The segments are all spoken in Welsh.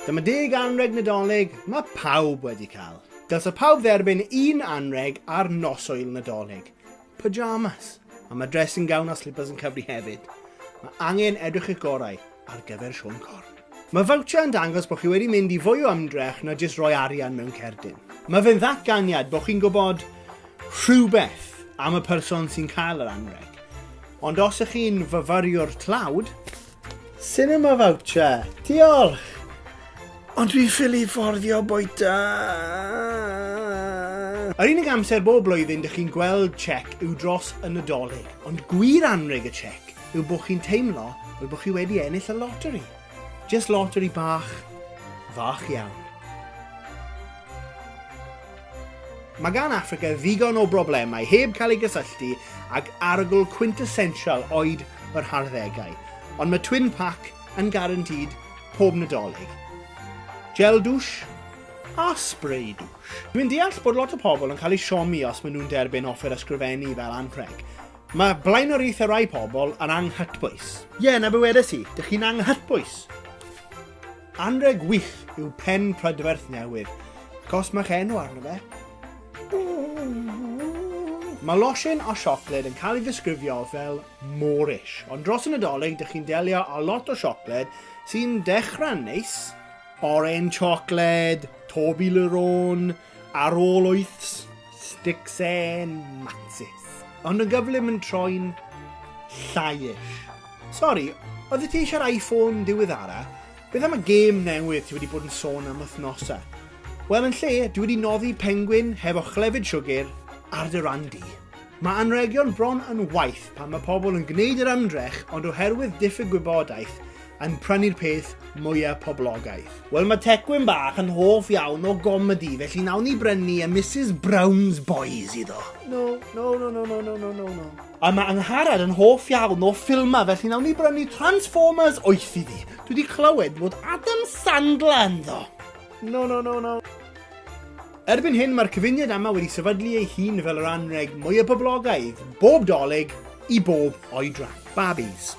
Dyma deg anreg Nadolig mae pawb wedi cael. Dylse pawb dderbyn un anreg ar nos oil Nadolig. Pyjamas. A mae dressing gown a slippers yn cyfri hefyd. Mae angen edrych eich gorau. ar gyfer Siôn Corn. Mae voucher yn dangos bod chi wedi mynd i fwy o ymdrech na jyst rhoi arian mewn cerdyn. Mae fe'n ddatganiad bod chi'n gwybod rhywbeth am y person sy'n cael yr anrheg. Ond os ych chi'n fyfyriwr tlawd, Cinema voucher! Diolch! Ond dwi'n ffili fforddio bwyta! Yr unig amser bob blwyddyn dych chi'n gweld chec yw dros y Nadolig, ond gwir anrheg y chec yw bod chi'n teimlo fel bod chi wedi ennill y loteri. Just loteri bach, fach iawn. Mae gan Africa ddigon o broblemau heb cael ei gysylltu ag arogl quintessential oed yr harddegau, ond mae Twin Pack yn garantid pob nadolig. Gel dwsh a spray dwsh. Dwi'n deall bod lot o pobl yn cael eu siomi os maen nhw'n derbyn offer ysgrifennu fel anrheg, Mae blaenoriaethau rhai pobl yn anghytbwys. Ie, 'na be wedes i, dych chi'n anghytbwys! Anrheg wych yw pen prydferth newydd, ac os mae'ch enw arno fe, Mae losin o siocled yn cael ei ddisgrifio fel Moorish, ond dros y Nadolig dych chi'n delio â lot o siocled sy'n dechrau'n neis, oren siocled, Toblerone, ar ôl wyths, Sticks and Matsis. Ond yn gyflym yn troi'n llaiish. Sori, oedd ti eisiau'r iPhone diweddara? Beth am y gêm newydd ti wedi bod yn sôn am wythnosau? Wel, yn lle, dwi wedi noddi pengwyn hefo chlefyd siwgr ar dy ran di. Mae anregion bron yn waith pan mae pobl yn gwneud yr ymdrech ond oherwydd diffyg gwybodaeth, yn prynu'r peth mwya poblogaidd. Wel mae Tecwyn bach yn hoff iawn o gomedi felly nawn ni brynu y Misus Brown's Boys iddo. No, no, no, no, no, no, no, no, no. A mae Angharad yn hoff iawn o ffilmau felly nawn ni brynu Transformers 8 iddi. Dwi wedi clywed bod Adam Sandler ynddo. No, no, no, no. Erbyn hyn mae'r cyfuniad yma wedi sefydlu ei hun fel yr anreg mwyaf poblogaidd, bob dolyg i bob oedran. Barbies.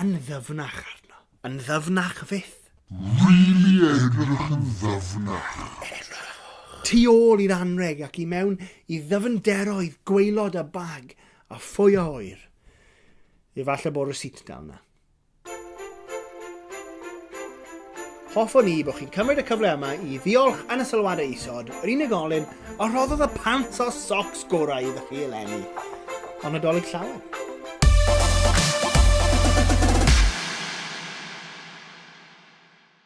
Yn ddyfnach arno. Yn ddyfnach fyth. Rili edrych yn ddyfnach. Edrychwch. Tu ôl i'r anrheg ac i mewn i ddyfnderoedd gwaelod a bag a phwy a ŵyr. Efallai bod rysît dal 'na. Hoffwn ni bod chi'n cymryd y cyfle yma i ddiolch yn y sylwadau isod yr unigolyn a rhoddodd y pants o socs gorau iddo chi eleni. Ond Nadolig llawen.